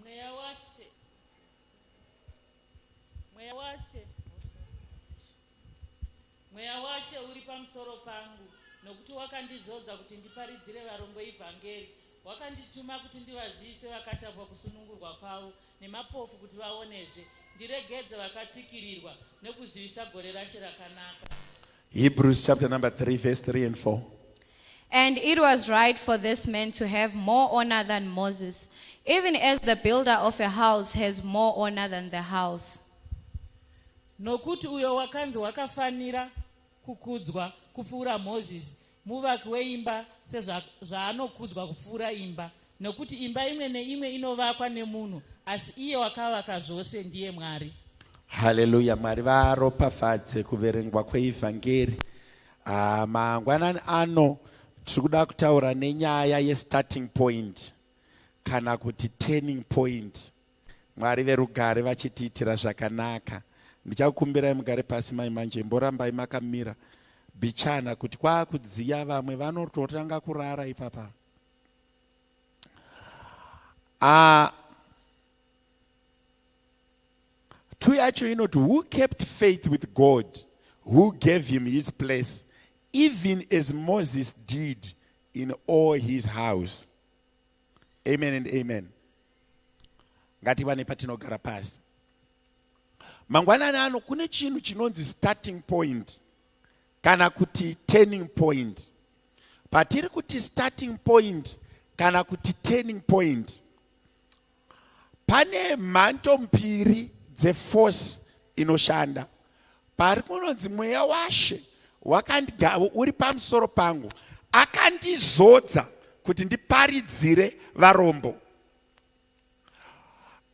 Mweya washe. Mweya washe. Mweya washe uri pamusoro pangu nokuti wakandizodza kuti ndiparidzire varombo evhangeri. Wakandituma kuti ndivazivise vakatapwa kusunungurwa kwavo nemapofu kuti vaonezve, ndiregedze vakatsikirirwa nokuzivisa gore rashe rakanaka. Hebrews chapter number 3 verse 3 and 4. And it was right for this man to have more honor than Moses, even as the builder of a house has more honor than the house. nokuti uyo wakanzi wakafanira kukudzwa kupfuura mozisi Muvaki weimba sezvaanokudzwa kupfuura imba, nokuti imba imwe neimwe inovakwa nemunhu, asi iye wakavaka zvose ndiye Mwari. Haleluya, Mwari varopafadze kuverengwa kweivhangeri ah, mangwanani ano. Tiri kuda kutaura nenyaya yestarting point kana kuti turning point. Mwari verugare vachitiitira zvakanaka. Ndichakukumbirai mugare pasi mai manje imborambai makamira bichana kuti kwakudziya vamwe vanototanga kurara ipapa. Ah, two yacho inoti who kept faith with God who gave him his place even as Moses did in all his house. amen and amen ngatiwane patinogara pasi mangwanani ano kune chinhu chinonzi starting point kana kuti turning point patiri kuti starting point kana kuti turning point pane mhanto mbiri dzeforce inoshanda Pari kunonzi mweya washe wakandigavo uri pamusoro pangu, akandizodza kuti ndiparidzire varombo.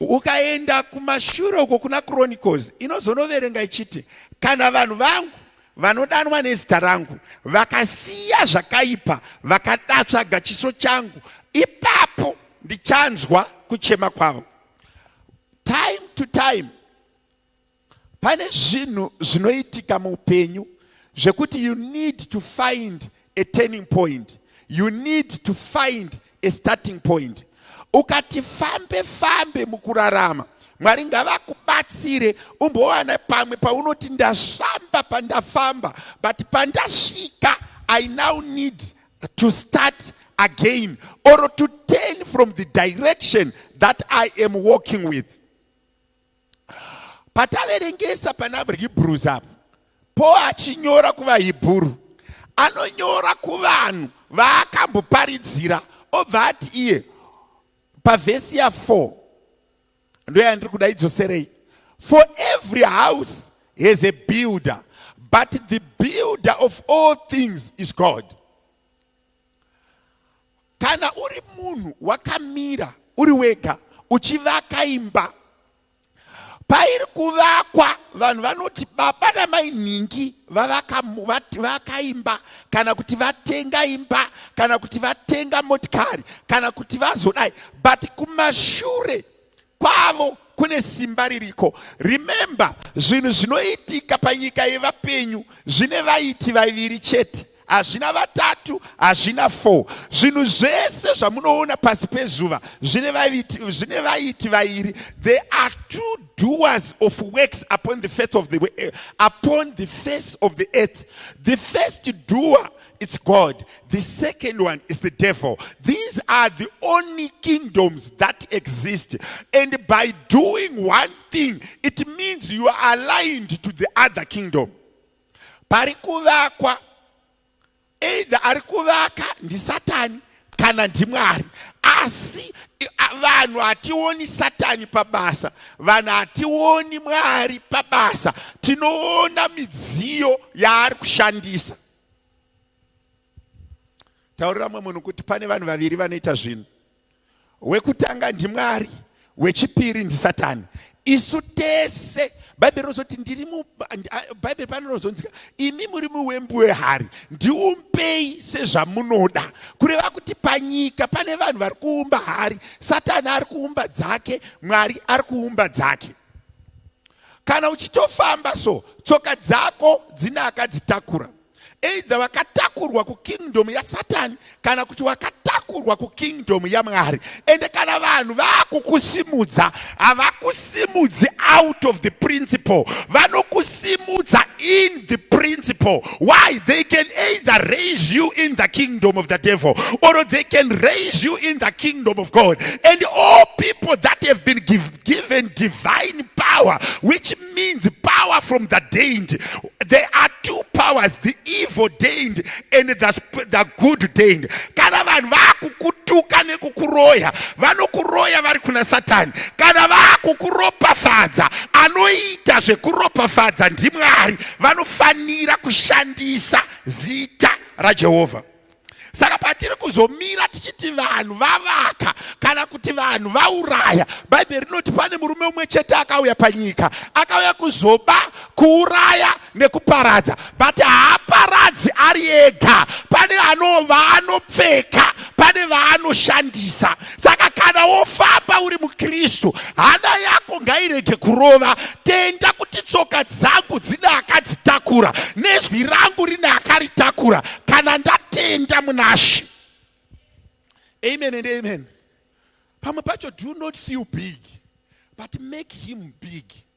Ukaenda kumashure uko kuna Chronicles inozonoverenga ichiti kana vanhu vangu vanodanwa nezita rangu vakasiya zvakaipa vakadatsvaga chiso changu ipapo ndichanzwa kuchema kwavo time to time Pane zvinhu zvinoitika muupenyu zvekuti you need to find a turning point, you need to find a starting point. Ukati fambe fambe mukurarama, Mwari ngavakubatsire umbowana pamwe paunoti ndasvamba pandafamba, but pandasvika I now need to start again or to turn from the direction that I am walking with. pataverengesa pana hebrews apo po achinyora kuvahebhuru anonyora kuvanhu vaakamboparidzira obva ati iye pavhesi ya 4 ndo yandiri kuda idzoserei for every house has a builder but the builder of all things is god kana uri munhu wakamira uri wega uchivaka imba pairi kuvakwa vanhu vanoti baba namai nhingi vavaka imba kana kuti vatenga imba kana kuti vatenga motikari kana kuti vazodai but kumashure kwavo kune simba ririko remember zvinhu zvinoitika panyika yevapenyu zvine vaiti vaviri chete hazvina vatatu hazvina four zvinhu zvese zvamunoona pasi pezuva zvine vaiti zvine vaiti vairi they are two doers of works upon the face of the eh, upon the face of the earth the first doer It's God. The second one is the devil. These are the only kingdoms that exist. And by doing one thing, it means you are aligned to the other kingdom. Pari kuvakwa, either ari kuvaka ndisatani kana ndimwari. Asi vanhu hationi satani pabasa, vanhu hationi mwari pabasa, tinoona midziyo yaari kushandisa. taurira mumwe munhu kuti pane vanhu vaviri vanoita zvinhu wekutanga ndimwari wechipiri ndisatani isu tese bhaibheri rinozoti ndiri bhaibheri pano rinozonzika imi muri muwembu wehari ndiumbei sezvamunoda kureva kuti panyika pane vanhu vari kuumba hari satani ari kuumba dzake mwari ari kuumba dzake kana uchitofamba so tsoka dzako dzine akadzitakura either wakatakurwa kukingdom yasatani kana kuti wakatakurwa kukingdom yamwari ende kana vanhu vakukusimudza havakusimudzi out of the principle vanokusimudza in the principle why they can either raise you in the kingdom of the devil or they can raise you in the kingdom of god and all people that have been given given divine power, which means power from the deity. There are two powers, the evil deity and the, sp- the good deity. Kana vanhu vakukutuka nekukuroya, vanokuroya vari kuna Satani. Kana vakukuropafadza, anoita zvekuropafadza ndiMwari. Vanofanira kushandisa zita raJehovha. saka patiri kuzomira tichiti vanhu vavaka kana kuti vanhu vauraya bhaibheri rinoti pane murume umwe chete akauya panyika akauya kuzoba kuuraya nekuparadza but haaparadzi ari ega pane vaanopfeka pane vaanoshandisa saka kana wofamba uri mukristu hana yako ngairege kurova tenda kuti tsoka dzangu dzine akadzitakura nezwi rangu rine akaritakura kana ndatenda munashe amen and amen pamwe pacho do not feel big but make him big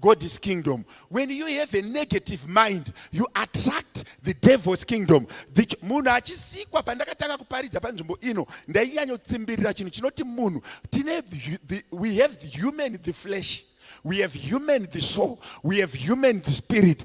God is kingdom. When you have a negative mind, you attract the devil's kingdom. Munhu achisikwa pandakatanga kuparidza panzvimbo ino, ndainyanyotsimbiririra chinhu chinoti munhu tine we have the human the flesh. We have human the soul. We have human the spirit.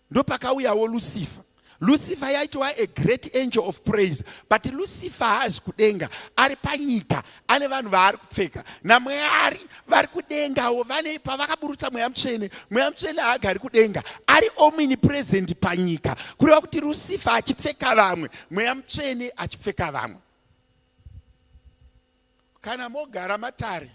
Ndopakauyawo Lucifer. Lucifer yaitova a great angel of praise but Lucifer haazi kudenga ari panyika ane vanhu vaari kupfeka naMwari vari kudengawo vane pavakaburutsa mweya mutsvene mweya mutsvene haagari kudenga ari omini present panyika kureva kuti Lucifer achipfeka vamwe mweya mutsvene achipfeka vamwe Kana mogara matare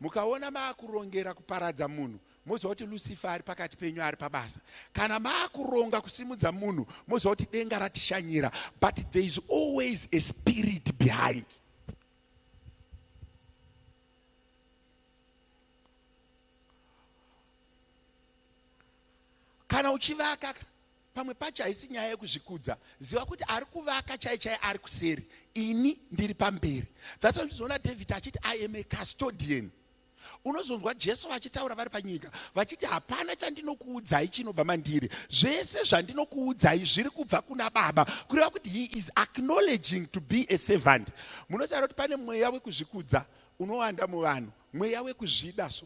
mukaona maakurongera kuparadza munhu moziva kuti Lucifer ari pakati penyu ari pabasa. Kana maakuronga kusimudza munhu moziva kuti denga ratishanyira but there is always a spirit behind. Kana uchivaka Pamwe pacho haisi nyaya yekuzvikudza ziva kuti ari kuvaka chai chai ari kuseri ini ndiri pamberi that's why uchizoona David achiti I am a custodian unozonzwa Jesu vachitaura vari panyika vachiti hapana chandinokuudzai chinobva mandiri zvese zvandinokuudzai zviri kubva kuna baba kureva kuti he is acknowledging to be a servant munoziva kuti pane mweya wekuzvikudza unowanda muvanhu mweya wekuzvida so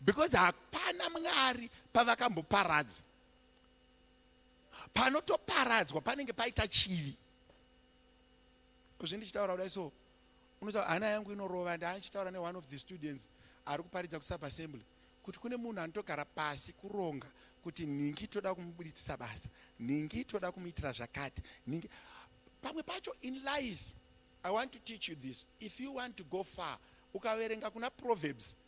because hapana mwari pavakamboparadza panotoparadzwa panenge paita chivi kozvindichitaura kudai so unotaura hana yangu inorova ndaandichitaura neone of the students ari kuparidza kusubassembly kuti kune munhu anotogara pasi kuronga kuti nhingi toda kumubuditsisa basa nhingi toda kumuitira zvakati nhingi pamwe pacho in life i want to teach you this if you want to go far ukaverenga kuna proverbs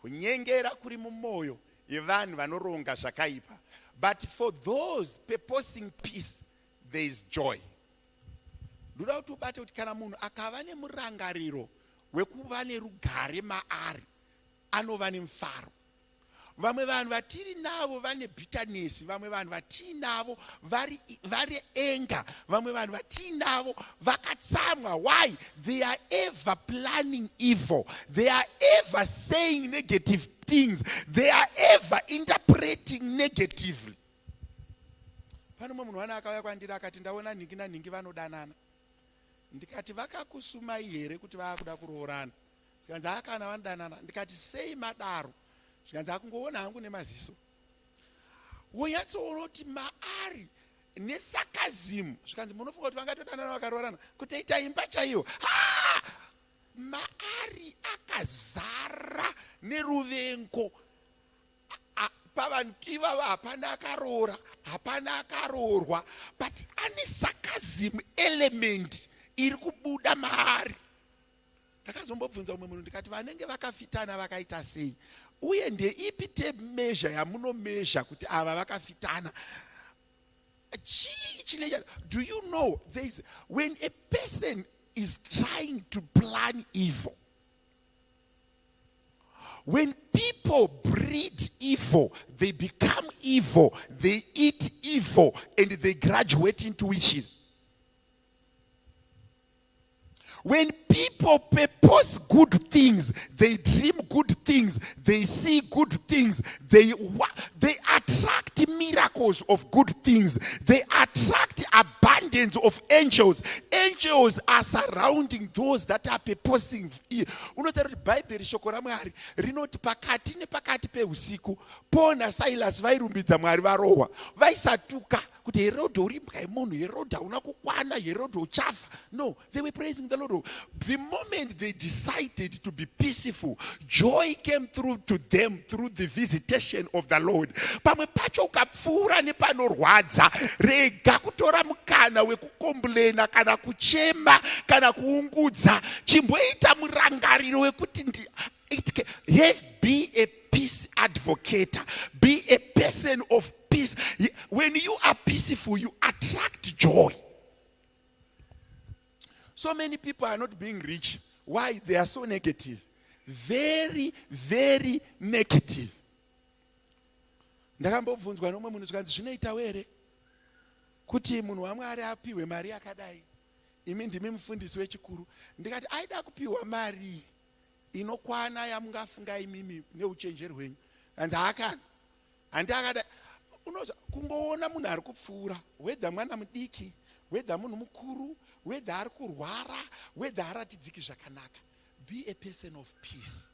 Kunyengera kuri mumoyo yevanhu vanoronga zvakaipa but for those purposing peace there is joy. Ndoda kuti ubate kuti kana munhu akava nemurangariro wekuva nerugare maari anova nemufaro. Vamwe vanhu vatiri navo vane bitterness, vamwe vanhu vatiinavo vari vari anger, vamwe vanhu vatiinavo Vakatsamwa why they are ever planning evil they are ever saying negative things they are ever interpreting negatively pane umwe munhu wana akauya kwandiri akati ndaona nhingi nanhingi vanodanana ndikati vakakusumai here kuti vaakuda kuroorana zvikanzi akana vanodanana ndikati sei madaro zvikanzi akungoona hangu nemaziso wonyatsoona kuti maari nesarcasm zvikanzi munofunga kuti vangatodanana vakaroorana kutoita imba chaiyo haa maari akazara neruvengo pavanhu ivavo hapana akaroora hapana akaroorwa but ane sarcasm element iri kubuda maari Ndakazombobvunza umwe munhu ndikati vanenge vakafitana vakaita sei uye ndeipi tape measure yamuno measure kuti ava vakafitana chii chine do you know there is when a person is trying to plan evil when people breed evil they become evil they eat evil and they graduate into witches When people purpose good things, they dream good things, they see good things, they, they attract miracles of good things, they attract abundance of angels. Angels are surrounding those that are purposing. Unotaura kuti Bhaibheri shoko raMwari rinoti pakati nepakati peusiku Paul naSilas vairumbidza Mwari varohwa, vaisatuka. Vai kuti herode uri mbwa yemunhu herode hauna kukwana herode uchafa no they were praising the lord the moment they decided to be peaceful joy came through to them through the visitation of the lord pamwe pacho ukapfuura nepanorwadza rega kutora mukana wekukomblena kana kuchema kana kuungudza chimboita murangariro wekuti it can, have be a peace advocator be a person of peace when you are peaceful you attract joy so many people are not being rich why they are so negative very very negative ndakambobvunzwa nomwe munhu zvikanzi zvinoitawo here kuti munhu wamwari apihwe mari yakadai imi ndimi mufundisi wechikuru ndikati aida kupiwa mari inokwana yamungafunga imimi neuchenjeri hwenyu anzi haakana Handi akada unoza kungoona munhu ari kupfuura wedha mwana mudiki wedha munhu mukuru wedha ari kurwara wedha aratidziki zvakanaka be a person of peace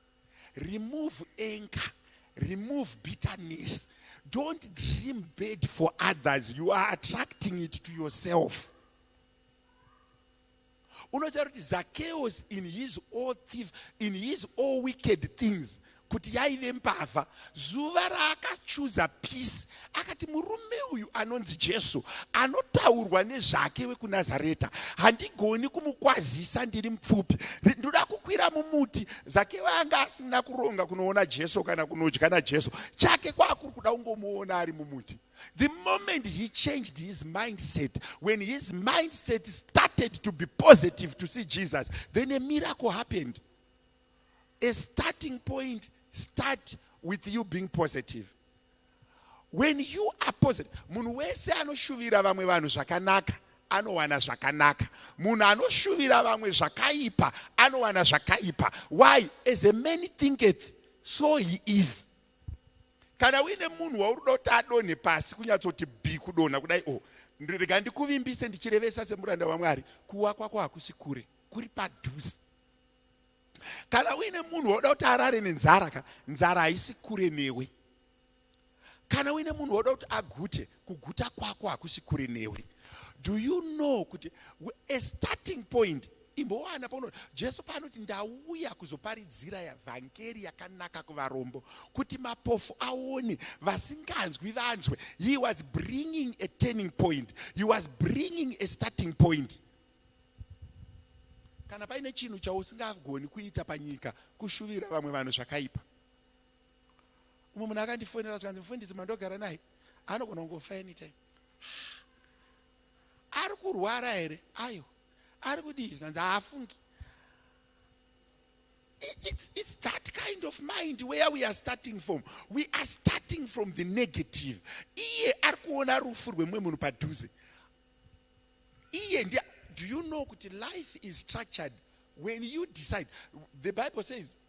remove anger remove bitterness don't dream bad for others you are attracting it to yourself unotaura kuti zakeos in his all thief in his all wicked things kuti yaive mbavha zuva raakachuza peace akati murume uyu anonzi jesu anotaurwa nezvake wekunazareta handigoni kumukwazisa ndiri mupfupi ndoda kukwira mumuti zake vanga asina kuronga kunoona jesu kana kunodya najesu chake kwaakuri kuda kungomuona ari mumuti The moment he changed his mindset, when his mindset started to be positive to see Jesus, then a miracle happened. A starting point start with you being positive. When you are positive, munhu wese anoshuvira vamwe vanhu zvakanaka anowana zvakanaka munhu anoshuvira vamwe zvakaipa anowana zvakaipa why as a man thinketh so he is kana uine munhu wauri kuda kuti adonhe pasi kunyatsoti bi kudonha kudai o oh, rega ndikuvimbise ndichirevesa semuranda wamwari kuwa kwako hakusi kure kuri padhuze kana uine munhu wauda kuti arare nenzara ka nzara haisi kure newe kana uine munhu wauda kuti agute Kuguta kwako hakusi kure newe. Do you know kuti a starting point imbowana pauno Jesu paanoti ndauya kuzoparidzira yavhangeri yakanaka kuvarombo kuti mapofu aone vasinganzwi vanzwe he was bringing a turning point he was bringing a starting point kana paine chinhu chausingagoni kuita panyika kushuvira vamwe vanhu zvakaipa umwe munhu akandifonera zvikanzi mufundisi mandogara naye anogona kungofa anytime ari kurwara here ayo ari kudii zvikanzi haafungi it's, it's that kind of mind where we are starting from we are starting from the negative iye ari kuona rufu rwemumwe munhu padhuze iye ndi do you know kuti life is structured when you decide the bible says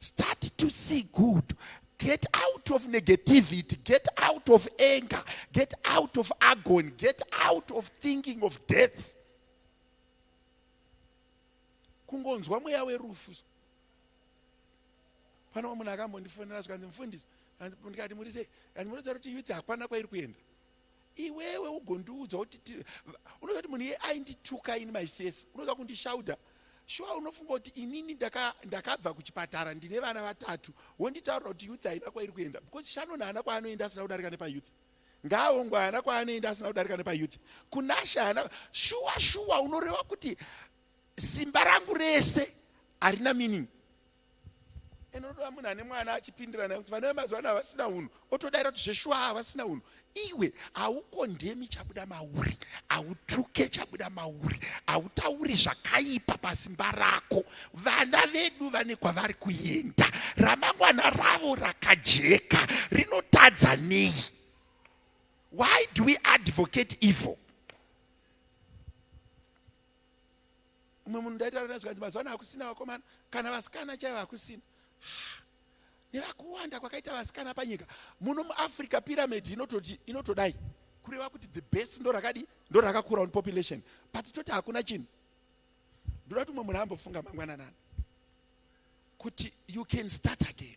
start to see good get out of negativity get out of anger get out of agony get out of thinking of death kungonzwa mweya werufu pane wa munhu akambo ndifonera zvikanzi mufundisi ndikati muri sei kanzi munoziva kuti youth hapana kwairi kuenda Iwewe ugondiudza kuti tiri va- unoziva kuti munhu iye aindituka ini my face unoziva kundishaudha shuwa unofunga kuti inini ndaka- ndakabva kuchipatara ndine vana vatatu wonditaurira kuti youth haina kwairi kuenda because shannon haana kwaanoenda asina kudarika nepayouth ngaahongwe haana kwaanoenda asina kudarika nepayouth kunasha haana shuwa shuwa unoreva kuti simba rangu rese harina meaning ende unotoda munhu ane mwana achipindira naye kuti vana vemazuva ano havasina unhu otodaira kuti zveshuwa havasina unhu iwe haukondemi chabuda mauri hautuke chabuda mauri hautauri zvakaipa pasimba rako vana vedu vane kwavari kuenda ramangwana ravo rakajeka rinotadza nei why do we advocate evil umwe munhu ndaitaura naye zvikanzi mazuva ano hakusina vakomana kana vasikana chaivo hakusina nevakuwanda kwakaita vasikana panyika muno muafrica pyramid inototi inotodai kureva kuti the best ndo rakadi ndo rakakura on population but toti hakuna chinhu ndoda kuti umwe munhu ambofunga mangwananani kuti you can start again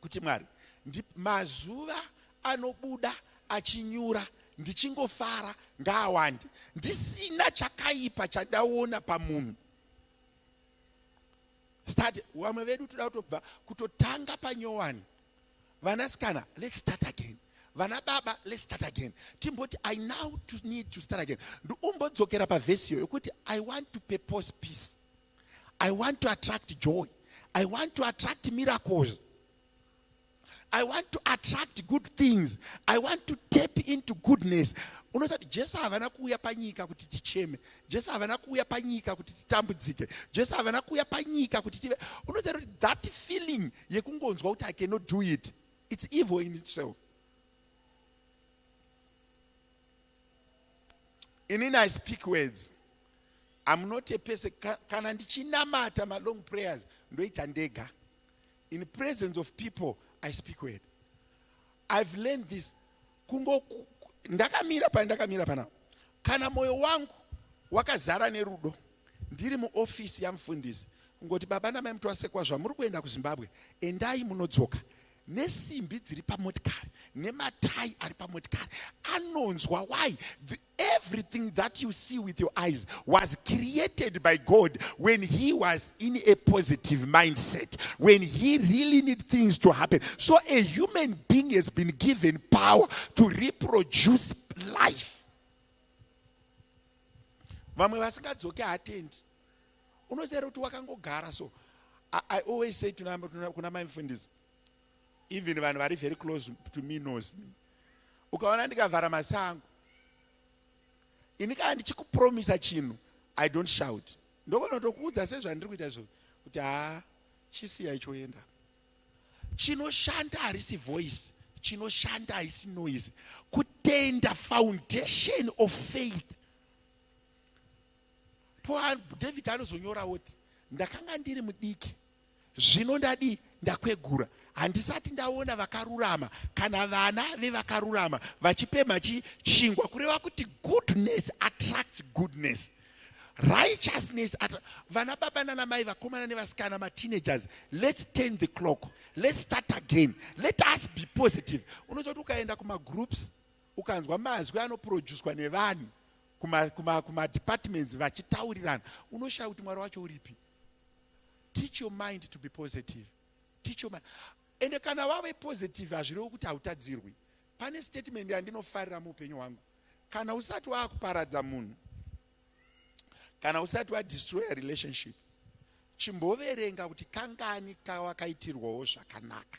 kuti Mwari ndi mazuva anobuda achinyura ndichingofara ngaawande ndisina chakaipa chandaona pamunhu start vamwe vedu toda kutobva kutotanga panyowani vanasikana let's start again vana baba let's start again timboti i now to need to start again ndiumbodzokera pavhesi iyo yokuti i want to purpose peace I want to attract joy. I want to attract miracles. I want to attract good things. I want to tap into goodness. Unoziva kuti Jesu havana kuuya panyika kuti ticheme. Jesu havana kuuya panyika kuti titambudzike. Jesu havana kuuya panyika kuti tive. Unoziva kuti that feeling yekungonzwa kuti I cannot do it. It's evil in itself. inini i speak words am not a person kana ndichinamata malong prayers ndoita ndega in presence of people i speak word i've learned this kungo ndakamira pane ndakamira pana kana moyo wangu wakazara nerudo ndiri muofisi yamufundisi kungoti baba namai mutwasekwa zvamuri kuenda kuzimbabwe endai munodzoka nesimbi dziri pamotikari nematai ari pamotikari anonzwa why the, everything that you see with your eyes was created by god when he was in a positive mindset when he really need things to happen so a human being has been given power to reproduce life vamwe vasingadzoke hatendi unoziva kuti wakangogara so I, i always say tuna, tuna, kuna mai mfundisi even vanhu vari very close to me knows me ukaona ndikavhara maso angu ini kana ndichikupromisa chinhu i don't shout ndokonotokuudza sezvandiri kuita izvo kuti haa chisiya ichoenda chinoshanda harisi voice chinoshanda haisi noise kutenda foundation of faith Po David anozonyora woti ndakanga ndiri mudiki zvino ndadii ndakwegura handisati ndaona vakarurama kana vana vevakarurama vachipemha chi chingwa kureva kuti goodness attracts goodness righteousness at vana baba nana mai vakomana nevasikana mateenagers let's turn the clock let's start again let us be positive unozoti ukaenda kumagroups ukanzwa mazwi anoproducwa nevanhu kuma, kuma, kuma departments vachitaurirana unoshaya kuti mwari wacho uripi teach your mind to be positive teach your mind ende kana wave positive hazvirewo kuti hautadzirwi pane statement yandinofarira muupenyu hwangu kana usati waakuparadza munhu kana usati wadestroya relationship chimboverenga kuti kangani kawakaitirwawo zvakanaka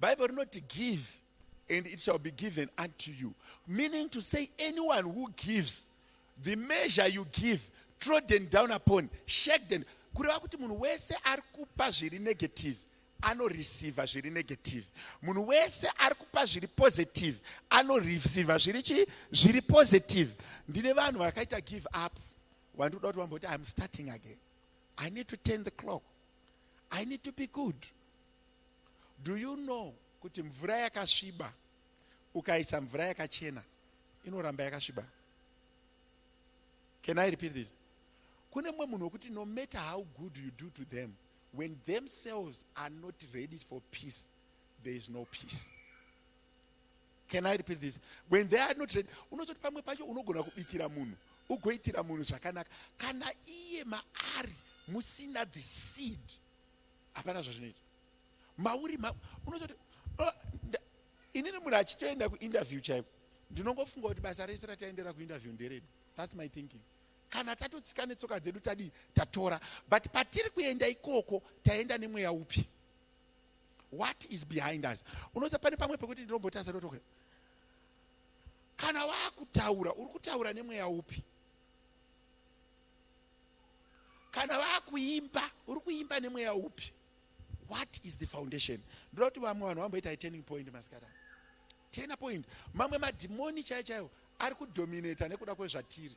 Bible rinoti give and it shall be given unto you. Meaning to say anyone who gives the measure you give trodden down upon shaken kureva kuti munhu wese ari kupa zviri negative anoreceiva zviri negative munhu wese ari kupa zviri positive anoreceiva zviri chii zviri positive ndine vanhu vakaita give up wandikuda kuti vambokuti iam starting again i need to turn the clock I need to be good. Do you know kuti mvura yakasviba ukaisa mvura yakachena inoramba yakasviba? Can I repeat this? Kune mwe munhu wekuti no matter how good you do to them, when themselves are not ready for peace, there is no peace. can i repeat this when they are not ready unozoti pamwe pacho unogona kubikira munhu ugoitira munhu zvakanaka kana iye maari musina the seed hapana zvazvinoita mauri ma, unozoti oh, inini munhu achitoenda kuinterview chaiko ndinongofunga kuti basa rese rataendera kuinterview nderedu thats my thinking kana tatotsika netsoka dzedu tadii tatora but patiri kuenda ikoko taenda nemweya upi what is behind us unoza pane pamwe pekuti ndinombotarisa ndotoka kana vakutaura uri kutaura nemweya upi kana vakuimba uri kuimba nemweya upi what is the foundation ndoda kuti vamwe vanhu vamboita turning point masikana turning point mamwe madhimoni chaiyo chaiyo ari kudominata nekuda kwezvatiri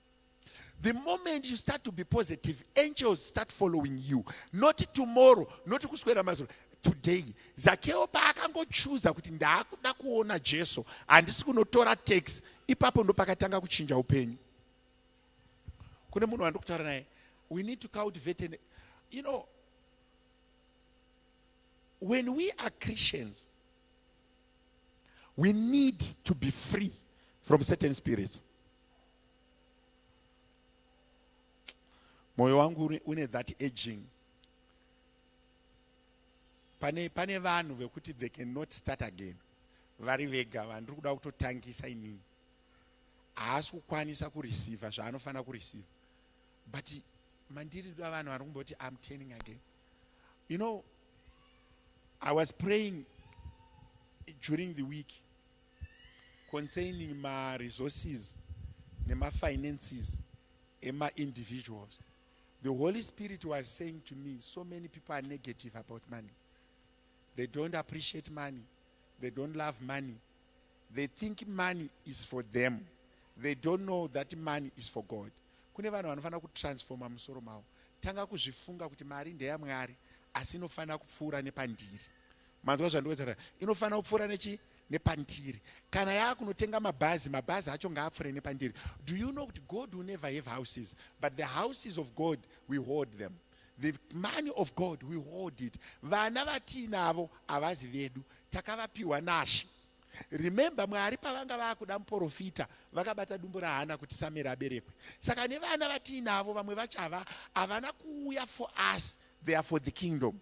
The moment you start to be positive, angels start following you. Not tomorrow, not kuswera mazuro. Today, Zakeo paakangochuza kuti ndaakuda kuona Jesu, handisi kunotora tax, ipapo ndo pakatanga kuchinja upenyu. Kune munhu wandiri kutaura naye, we need to cultivate an, you know, when we are Christians, we need to be free from certain spirits. moyo wangu une that aging pane pane vanhu vekuti they can not start again vari vega vandiri kuda kutotangisa inini haasi kukwanisa kureceiva zvaanofanira kureceiva but mandiri da vanhu vari kumboti am turning again you know i was praying during the week concerning ma resources nema finances ema individuals the holy spirit was saying to me so many people are negative about money they don't appreciate money they don't love money they think money is for them they don't know that money is for god kune vanhu vanofanira kutransforma musoro mavo tanga kuzvifunga kuti mari ndeyamwari asi inofanira kupfuura nepandiri Manzwa zvandikuedzera inofanira kupfuura nechi nepandiri kana yaakunotenga mabhazi mabhazi acho ngaapfuure nepandiri do you know kuti god will never have houses but the houses of god we hold them the money of god we hold it vana vatiinavo havazi vedu takavapiwa nashe remember mwari pavanga vaakuda muporofita vakabata dumbu rahana kuti sameri aberekwe saka nevana vatiinavo vamwe vachava havana kuuya for us they are for the kingdom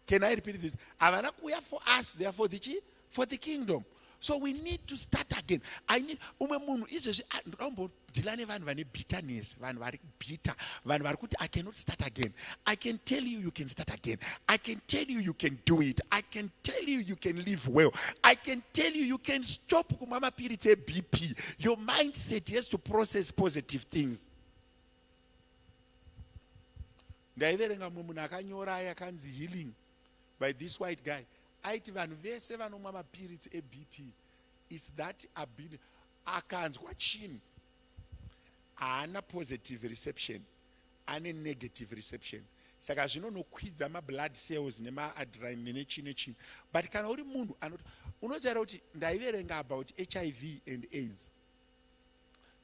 Can I repeat this? Havana kuuya for us, they are for the chi, for the kingdom. So we need to start again. I need umwe munhu izvezvi ah, ndoda kumbodhila nevanhu vane bitterness, vanhu vari bitter, vanhu vari kuti I cannot start again. I can tell you you can start again. I can tell you you can do it. I can tell you you can live well. I can tell you you can stop kumama piritse BP. Your mindset has to process positive things. ndaiverenga mumwe munhu akanyora aye akanzi healing by this white guy aiti vanhu vese vanomwa mapiritsi ebp its that abin akanzwa chinhu haana positive reception ane negative reception saka zvinonokwidza mablood cells nemaadrine nechii nechii but kana uri munhu anoti unozivaira kuti ndaiverenga about hiv and aids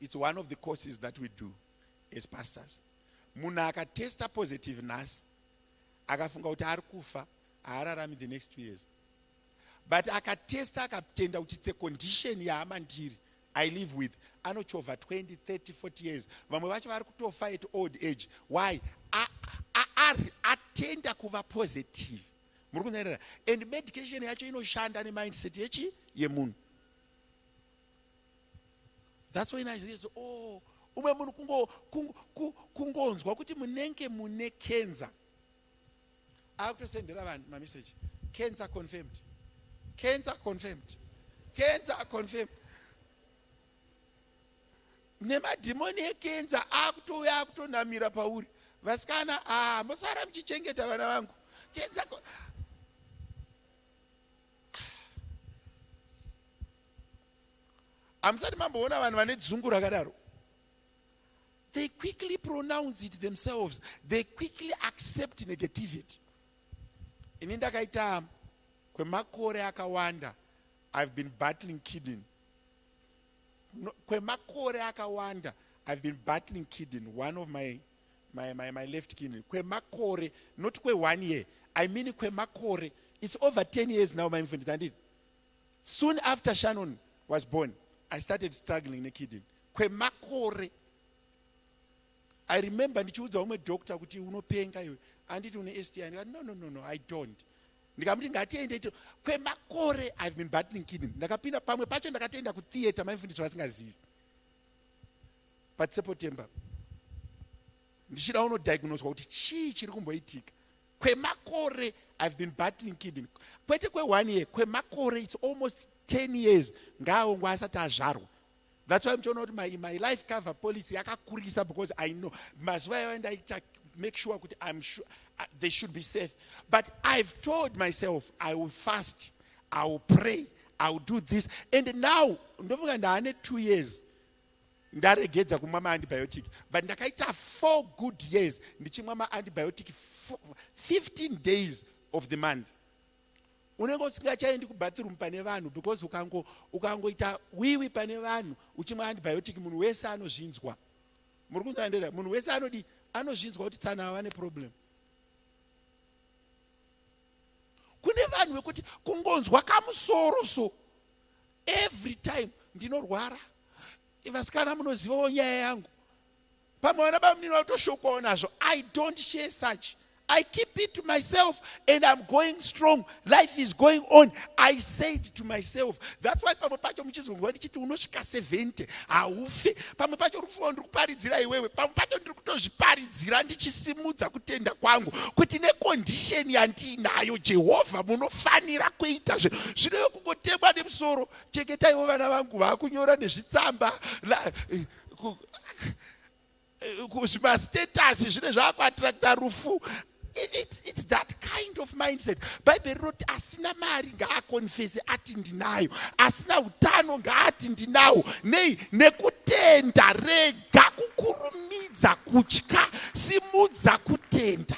It's one of the courses that we do as pastors. Munhu akatesta positive nhasi akafunga kuti ari kufa haararami the next two years but akatesta akatenda kuti it's a condition yahama ndiri i live with anochovha 20 30 40 years vamwe vacho vari kutofa at old age why ari atenda kuva positive muri kunyarira and medication yacho inoshanda nemindset yechi yemunhu thats why naizoizo o oh, umwe munhu kungonzwa kuti munenge mune cancer akutosendera vanhu mameseji cancer confirmed cancer confirmed cancer confirmed nemadhimoni ekenza akutouya akutonamira pauri vasikana haa ah, mosara muchichengeta vana vangu kenza hamusati mamboona vanhu vane dzungu rakadaro they quickly pronounce it themselves they quickly accept negativity ini ndakaita kwemakore akawanda i've been battling kidden no, kwemakore akawanda i've been battling kidden one of my, my, my, my left kidden kwemakore not kwe one year i mean kwemakore it's over 10 years now maimfundisa handiti Soon after Shannon was born, I started struggling nekidney kwemakore. I remember ndichiudza umwe doctor kuti unopenga iwe, anditi une STI, ndikati no, no, no, no, I don't. Ndikamuti ngatiende ito, kwemakore I've been battling kidney. Ndakapinda pamwe pacho ndakatoenda kutheater maifundiswa vasingazivi. But September ndichida unodiagnoswa kuti chii chiri kumboitika. kwemakore I've been battling kidney kwete kwe one year kwemakore it's almost 10 years ngaaongwe asati azvarwa that's why muchiona kuti my, my life cover policy yakakurisa because i know mazuva yavo ndaita make sure kuti i'm sure uh, they should be safe but i've told myself i will fast i will pray i will do this and now ndofunga ndaane two years ndaregedza kumwa maantibiotic but ndakaita four good years ndichimwa maantibiotic 15 days of the month unenge usingachaendi kubathroom pane vanhu because ukango ukangoita wiwi pane vanhu uchimwa antibiotic munhu wese anozvinzwa muri kunzandera munhu wese anodi anozvinzwa kuti tsana ava neproblem kune vanhu vekuti kungonzwa kamusoro so every time ndinorwara vasikana munozivawo nyaya yangu pamwe vana bamunini vatoshokawo nazvo i don't share such i keep it to myself and im going strong life is going on i said to myself thats why pamwe pacho muchizonzwa ndichiti unosvika 70 haufe pamwe pacho rufuwo ndiri kuparidzira iwewe pamwe pacho ndiri kutozviparidza Zira ndichisimudza kutenda kwangu kuti nekondisheni yandiinayo jehovha munofanira kuita zve zvinove kungotemwa nemusoro chengetaiwo vana vangu vakunyora nezvitsamba eh, eh, kuzvimastatasi zvine zvaakuattracta rufu It's, it's that kind of mindset bhaibheri rinoti asina mari ngaakonfese ati ndinayo asina utano ngaati ndinawo nei nekutenda rega Rega kukurumidza kutya, simudza kutenda.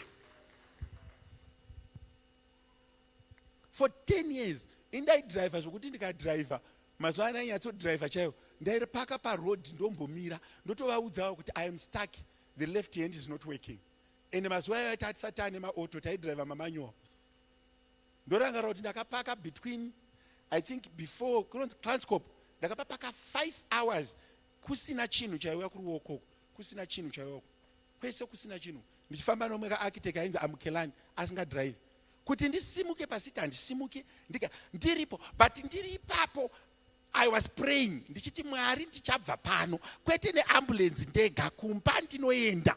For 10 years indaidriver zvokuti ndikadriver mazuva ano ainyatsodriver chaiwo ndaipaka paroad ndombomira ndotovaudzawo kuti i am stuck the left hand is not working and mazuva ayo aita atisati ane maauto taidriver mamanual ndorangarira kuti ndakapaka between i think before kunonzi transcop ndakapapaka five hours kusina chinhu chaiuya kuruoko uku kusina chinhu chaiuya uku kwese kusina chinhu ndichifamba nomwe kaarchitect ainzi amukelani asingadrive kuti ndisimuke pasiti handisimuke ndika ndiripo but ndiri ipapo i was praying ndichiti mwari ndichabva pano kwete neambulenzi ndega kumba ndinoenda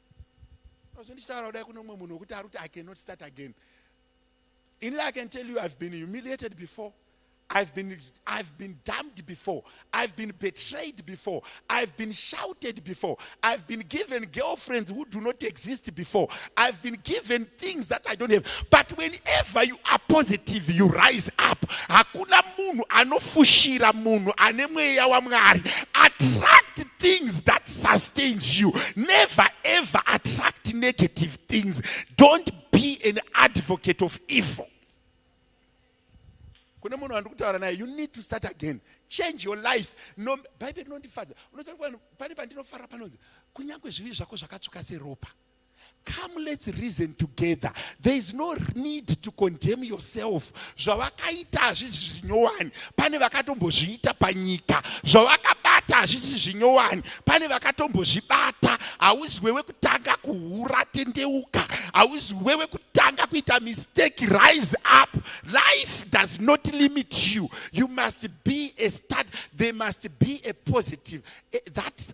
Ndozvo ndichitaura kudai kune umwe munhu wekuti ari kuti I cannot start again. Ini I can tell you I've been humiliated before. I've been, I've been dumped before. I've been betrayed before. I've been shouted before. I've been given girlfriends who do not exist before. I've been given things that I don't have. But whenever you are positive, you rise up. Hakuna munhu anofushira munhu ane mweya waMwari. Attract things that sustains you. Never ever attract negative things. Don't be an advocate of evil. kune munhu wandiri kutaura naye you need to start again change your life no bhaibheri rinondifadza unotaura pane pandinofara panonzi kunyange zvivi zvako zvakatsvuka seropa Come let's reason together. There is no need to condemn yourself. Zvavakaita hazvisi zvinyowani. Pane vakatombozviita panyika. Zvavakabata hazvisi zvinyowani. Pane vakatombozvibata. Hauzi wewe kutanga kuhura tendeuka. Hauzi wewe kutanga kuita mistake rise up. Life does not limit you. You must be a start. There must be a positive. Eh, that's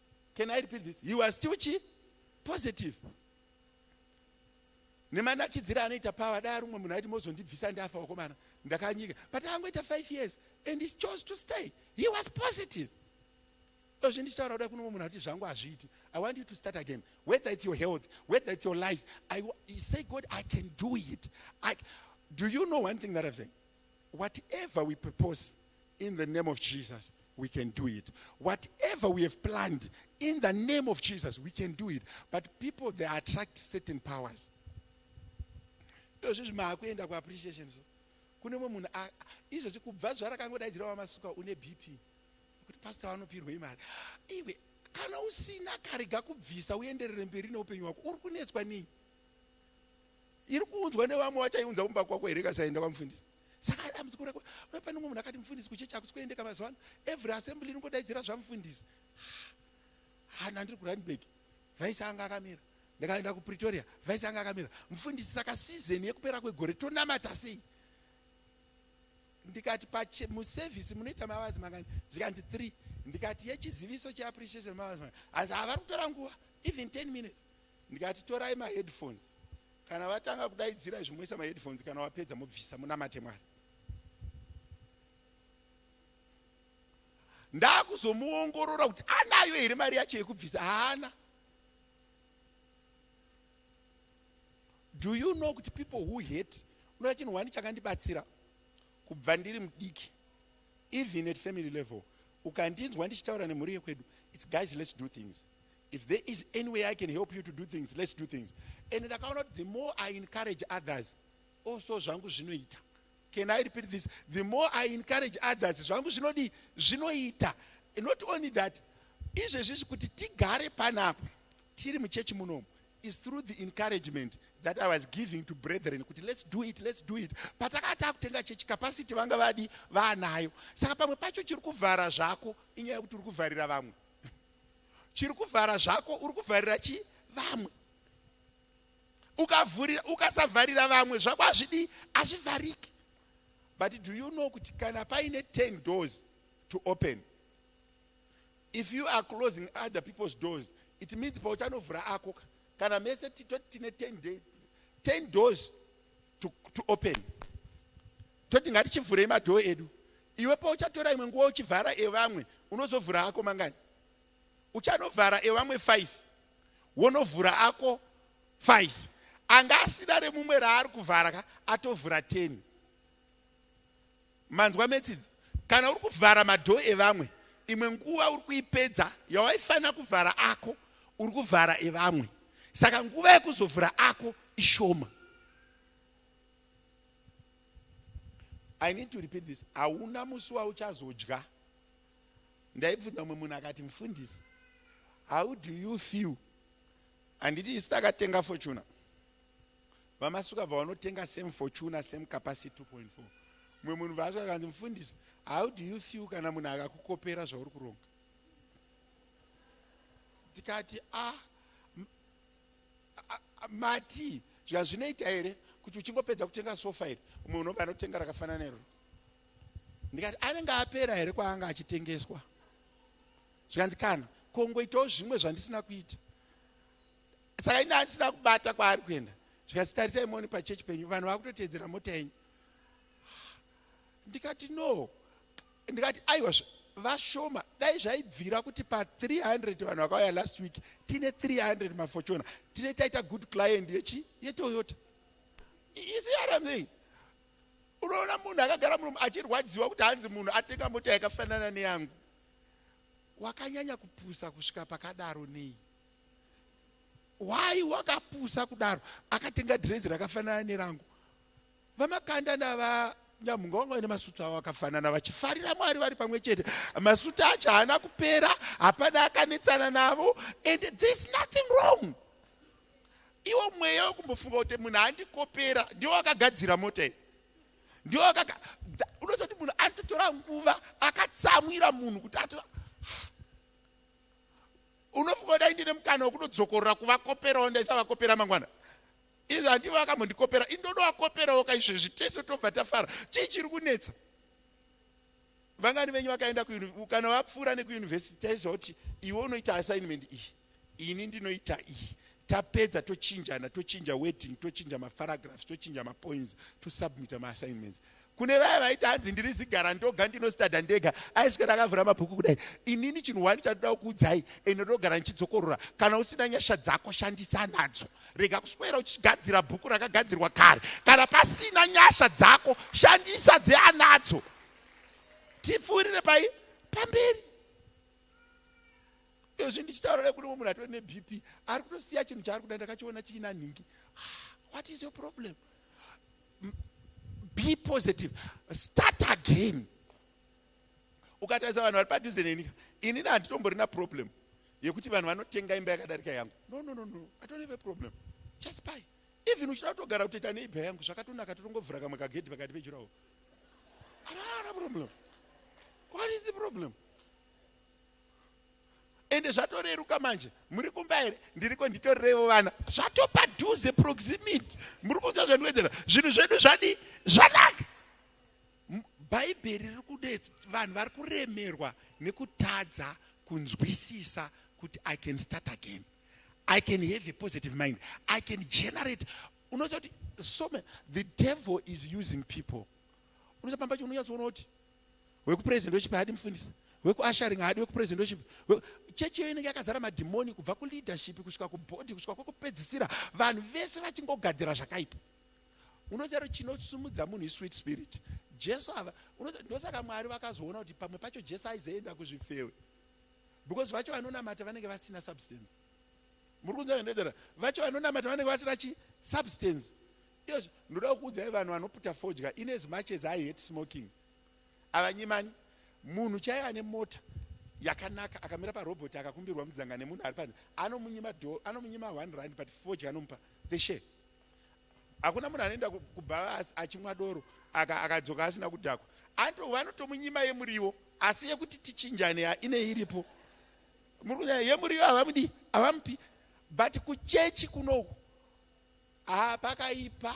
can i repeat this he was still chi positive nemanakidzira anoita power dai rumwe munhu aiti mozondibvisa ndafa wakomana ndakanyika but angoita five years and he chose to stay he was positive ozvi ndichitaura kuda kuno munhu ati zvangu hazviiti i want you to start again whether it's your health whether it's your life I, you say god i can do it I, do you know one thing that i've said whatever we propose in the name of Jesus we can do it whatever we have planned in the name of Jesus we can do it but people they attract certain powers ndozvizvi maakuenda kuappreciation so kune mwe munhu izvozvi kubva zuva rakangodaidzira wamasuka une bp kuti pastor vanopirwei mari iwe kana usina karega kubvisa uenderere mberi neupenyu hwako uri kunetswa nei iri kuunzwa nevamwe vachaiunza kumba kwako here kasaenda kwamufundisi saka dambudziko rako uye pane umwe munhu akati mufundisi kuchechi akusi kuendeka mazuva ano every assembly inongodaidzira zvamufundisi hana ndiri kuranburg vaisi anga akamira ndikaenda kupretoria vaisi anga akamira mufundisi saka season yekupera kwegore tonamata sei ndikati muservice munoita mavazi mangani zvikanzi three ndikati yechiziviso cheappreciation mavazi mangani hanzi havari kutora nguva even ten minutes Ndikati torai ma headphones kana vatanga kudaidzira izvi moisa ma headphones kana wapedza mobvisa munamate Mwari. Ndakuzomuongorora kuti anayo here mari yacho yekubvisa haana. Do you know kuti people who hate unoda chinhu wani chakandibatsira kubva ndiri mudiki even at family level ukandinzwa ndichitaura nemhuri yekwedu its guys let's do things If there is any way I can help you to do things let's do things and ndakaona kuti the more I encourage others also zvangu zvinoita can I repeat this the more I encourage others zvangu zvinodii zvinoita not only that izvezvizvi kuti tigare panapa tiri muchechi munomu is through the encouragement that I was giving to brethren kuti let's do it let's do it patakati takutenga chechi capacity vanga vadi vaanayo saka pamwe pacho chiri kuvhara zvako inyaya yekuti uri kuvharira vamwe chiri kuvhara zvako uri kuvharira chi vamwe ukavhurira ukasavharira vamwe zvako hazvidii hazvivhariki but do you know kuti kana paine 10 doors to open if you are closing other people's doors it means pauchanovhura ako kana mese titoti tine 10 days 10 doors to, to open Toti ngatichivhurei madhoo edu. Iwe pauchatora imwe nguva uchivhara evamwe, unozovhura ako mangani? Uchanovhara evamwe five, wonovhura ako five. Anga asina remumwe raari kuvhara ka, atovhura ten. Manzwa metsidzi? Kana uri kuvhara madhoo evamwe, imwe nguva uri kuipedza yawaifanira kuvhara ako, uri kuvhara evamwe. Saka nguva yekuzovhura ako ishoma. I need to repeat this. Hauna musi wauchazodya. Ndaibvunza mumwe munhu akati mfundisi, how do you feel? Handiti isi takatenga fortuna. Vamasuka bva vanotenga same fortuna, same capacity 2.4. Mumwe munhu vaaswa akanzi mfundisi, how do you feel kana munhu akakukopera zvauri kuronga? Tikati ah Mati zvazvinoita here kuti uchingopedza kutenga sofa iri umwe unobva anotenga rakafanana nero ndikati anenge apera here kwaanga achitengeswa zvikanzi kana kongoitawo zvimwe zvandisina kuita saka ini andisina kubata kwaari kuenda zvikanzi tarisai moni pachechi penyu vanhu vakutoteedzera mota yenyu ndikati no Ndikati aiwa vashoma dai zvaibvira kuti pa 300 vanhu vakauya last week tine 300 mafochona tine taita good client yechi yetoyota isi yaramei unoona munhu akagara muno achirwadziwa kuti hanzi munhu atenga mota yakafanana neyangu wakanyanya kupusa kusvika pakadaro nei why wakapusa kudaro akatenga drezi rakafanana nerangu VaMakanda naVaNyamhunga vanga vaine masutu avo akafanana vachifarira Mwari vari pamwe chete. Masutu acho haana kupera, hapana akanetsana navo and there is nothing wrong. Iwo mweya wekumbofunga kuti munhu andikopera ndiwo wakagadzira mota iyi. Ndiwo wakaga unototi munhu anototora nguva akatsamwira munhu kuti atora unofunga kuti aindine mukana wekudodzokorora kuvakoperawo ndaisavakopera mangwana Izvi handivo vakambondikopera indodo vakoperawo ka izvezvi tese tobva tafara chii chiri kunetsa vangani venyu vakaenda kana vapfuura nekuyunivhesiti taiziva kuti iwe unoita assignment iyi ini ndinoita iyi tapedza tochinjana tochinja wedding tochinja maparagraphs tochinja mapoints tosubmita maassignments Kune vaya vaiti hanzi ndiri zigara ndoga ndinostadha ndega aiswera akavhura mabhuku kudai inini chinhu wani chandinoda kukuudzai ende ndogara ndichidzokorora kana usina nyasha dzako shandisa nadzo rega kuswera uchigadzira bhuku rakagadzirwa kare kana pasina nyasha dzako shandisa dzeanadzo tipfuurire pai pamberi izvi ndichitaura nekuti mumwe munhu atori nebp ari kutosiya chinhu chaari kuda ndakachiona chiina nhingi ah, what is your problem be positive start again ukatarisa vanhu vari padhuze neni inini handitomborina problem yekuti vanhu vanotenga imba yakadarika yangu no no no no i don't have a problem just buy even uchida kutogara kutoita neibha yangu zvakatonaka totongovhura kamwe kagedhi pakati pejurawo havana problem what is the problem ende zvatoreruka manje muri kumba here ndiriko nditorirevo vana zvatopadhuze proximity muri kunzwa zvandiwedzera zvinhu zvedu zvadi zvanaka bhaibheri riri kudetsa vanhu vari kuremerwa nekutadza kunzwisisa kuti i can start again i can have a positive mind i can generate unoziva kuti some the devil is using people unoziva pamba pacho unonyatsoona kuti wekupresendoship haadi mufundisi wekuasharing haadi wekupresendoship chechi iyo inenge yakazara madhimoni kubva kuleadership kusvika kubhodhi kusvika kwekupedzisira vanhu vese vachingogadzira zvakaipa unoziva kuti chinosumudza munhu isweet spirit jesu ava ndosaka mwari vakazoona kuti pamwe pacho jesu aizoenda kuzvifewe because vacho vanonamata vanenge vasina substance muri kunzaa vacho vanonamata vanenge vasina chi substance Yes ndoda kukuudzai vanhu vanoputa fodya in as much as I hate smoking avanyimani munhu chaiye ane mota yakanaka akamira parobot akakumbirwa mudzanga nemunhu ari panze anomunyima do anomunyima one rand but fodya anomupa the share hakuna munhu anoenda kubhavasi achimwa doro akadzoka aka asina kudhakwa anto vanotomunyima yemuriwo asi yekuti tichinjane ine iripo muri kunyaya yemuriwo havamudi havamupi but kuchechi kunoku Haa pakaipa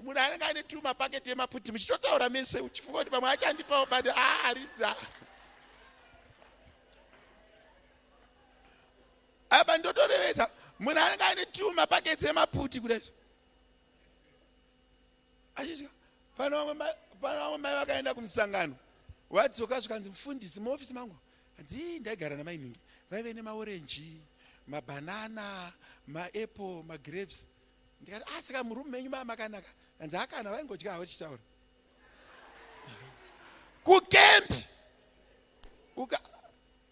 munhu anenge aine tuma paketi yemaputi muchitotaura mese uchifunga kuti pamwe achandipawo but aaridza apa ndotorevedza munhu anenge aine tuma paketi yemaputi kudai achitya pano vamwe mai vakaenda kumusangano vadzoka zvikanzi mufundisi muofisi mangu Hanzii ndaigara namainhingi vaive nemaorenji, mabanana, maapple, magrapes ndikati ah saka muroom menyu mava makanaka? Hanzi haa kana vaingodya havo tichitaura. Kucamp uka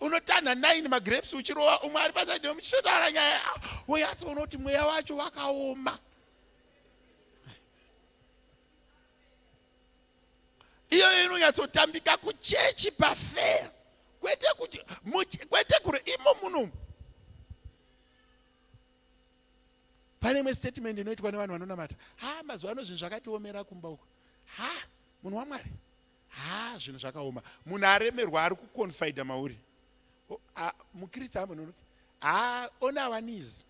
unotanha nine magrapes uchirova umwe ari pasaidi muchitotaura nyaya woyatsoona kuti mweya wacho wakaoma. iyoyo inonyatsotambika kuchechi pafeya kwete kuti kwete kure imo muno pane imwe statement inoitwa nevanhu vanonamata ha mazuva ano zvinhu zvakatiomera kumba uko ha munhu wamwari ha zvinhu zvakaoma munhu aremerwa ari kuconfida mauri mukristu amononoki ha ona awanizi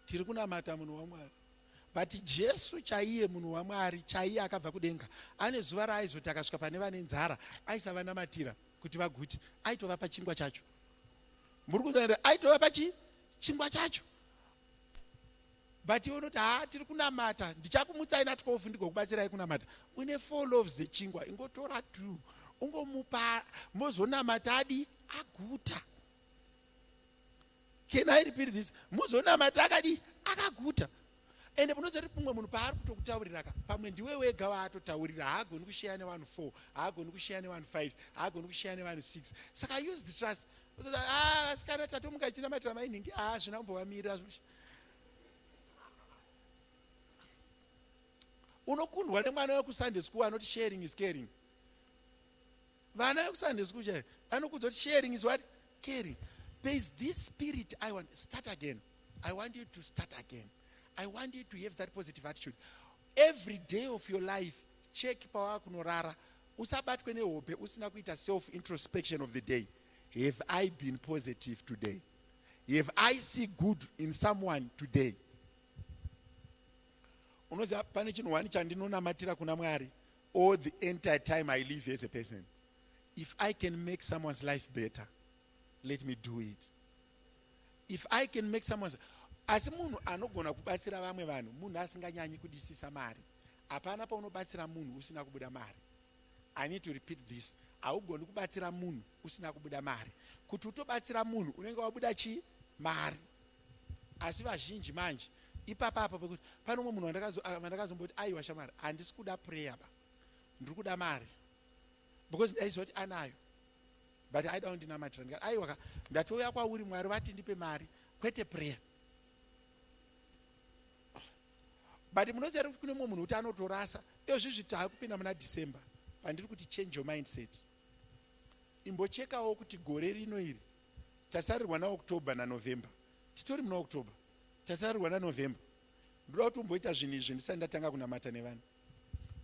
tiri kunamata munhu wamwari but jesu chaiye munhu wamwari chaiye akabva kudenga ane zuva raaizoti akasvika pane vane nzara aisavanamatira kuti vagute aitovapa chingwa chacho muri kuzaira aitovapa chi chingwa chacho but iwe unoti haa tiri kunamata ndichakumutsai na 12 ndigokubatsirai kunamata une four loves dzechingwa ingotora two ungomupa mozonamata adi aguta Can I repeat this? Muzonamata akadii? Akaguta. Ende munoziva kuti mumwe munhu paari kutokutaurira ka pamwe ndiwe wega waatotaurira haagoni kusheya nevanhu four haagoni kusheya nevanhu five haagoni kusheya nevanhu six saka use the trust ah, asikana tatomuka chinamatira mainhingi a ah, zvina kumbovamirira zvo unokundwa nemwana wekusunday school anoti sharing is caring Vana vekuSunday school chaiyo anokuudza kuti sharing is what? Caring. There is this spirit I want. Start again. I want you to start again. I want you to have that positive attitude. Every day of your life, check pawa kunorara. Usabatwe nehope usina kuita self introspection of the day. Have I been positive today? Have I see good in someone today? Unoziva pane chinhu wani chandinonamatira kuna Mwari. all the entire time i live as a person if i can make someone's life better let me do it if i can make someone's asi munhu anogona kubatsira vamwe vanhu munhu asinganyanyi kudisisa mari hapana paunobatsira munhu usina kubuda mari i need to repeat this haugoni kubatsira munhu usina kubuda mari kuti utobatsira munhu unenge wabuda chii mari Asi vazhinji manje ipapa apa pekuti pane umwe munhu vandakazomboti aiwa shamwari handisi kuda prayer ba ndiri kuda mari because ndaiziva kuti anayo but aida kundinamatira ndikati aiwa ka ndatouya kwauri mwari vati ndipe mari kwete prayer but munoziva kuti kune mumwe munhu kuti anotorasa iozvizvi taakupinda muna december pandiri kuti change your mindset imbochekawo kuti gore rino iri tasarirwa na October na November titori muna October tasarirwa na November ndoda kuti umboita zvinhu izvi ndisati ndatanga kunamata nevanhu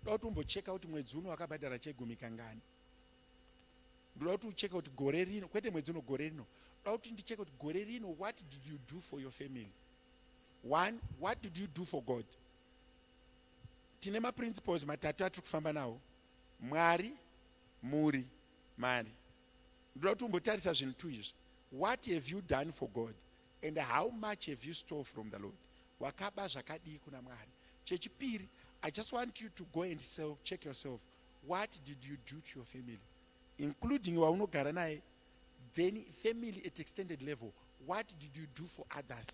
ndoda kuti umbocheka kuti mwedzi uno wakabhadhara chegumi kangani ndoda kuti ucheke kuti gore rino kwete mwedzi uno gore rino ndoda kuti ndicheke kuti gore rino what did you do for your family one what did you do for god tine maprinciples matatu atiri kufamba nawo mwari mhuri mari ndoda kuti umbotarisa zvinhu two izvi what have you done for god and how much have you stole from the lord wakaba zvakadii kuna mwari chechipiri i just want you to go and self, check yourself what did you do to your family including waunogara naye then family at extended level what did you do for others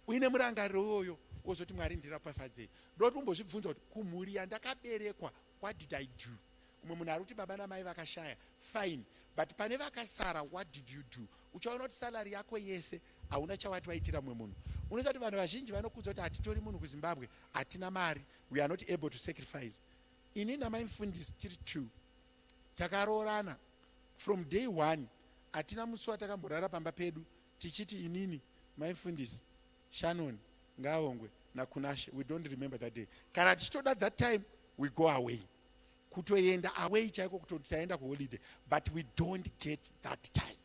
uine murangariro iwoyo wozoti mwari ndiropafadzei ndokuti umbozvibvunza kuti kumhuri yandakaberekwa What did I do? Umwe munhu arikuti baba namai vakashaya fine but pane vakasara what did you do? Uchaona kuti salary yako yese hauna chawati waitira mumwe munhu. Unoziva kuti vanhu vazhinji vanokuudza kuti hatitori munhu kuZimbabwe, hatina mari, we are not able to sacrifice. Ini namai Mfundisi tiri two takaroorana from day one hatina musi watakamborara pamba pedu tichiti inini mai Mfundisi Shannon ngaavongwe naKunashe we don't remember that day kana tichitoda that time we go away kutoenda away chaiko kutoti taenda kuholiday but we don't get that time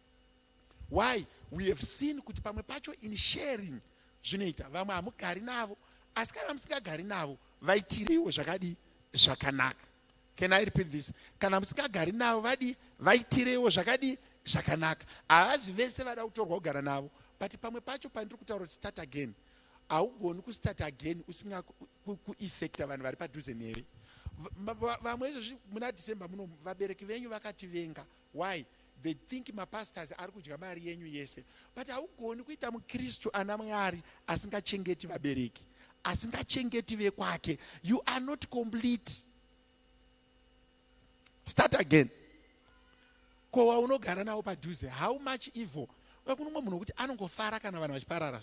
why we have seen kuti pamwe pacho in sharing zvinoita vamwe hamugari navo asi kana musingagari navo vaitireiwo zvakadii zvakanaka Can I repeat this? Kana musingagari navo vadii? Vaitireiwo zvakadii? Zvakanaka. Havazi vese vada kutorwa kugara navo. But pamwe pacho pandiri kutaura kuti start again. Haugoni kustart again usinga kueffecta vanhu vari padhuze newe. Vamwe izvozvi muna December muno vabereki venyu vakativenga Why they think mapastors arikudya mari yenyu yese but haugoni kuita mukristu ana Mwari asingachengeti vabereki asingachengeti vekwake you are not complete start again ko waunogara navo padhuze how much evil vakunomwe munhu wekuti anongofara kana vanhu vachiparara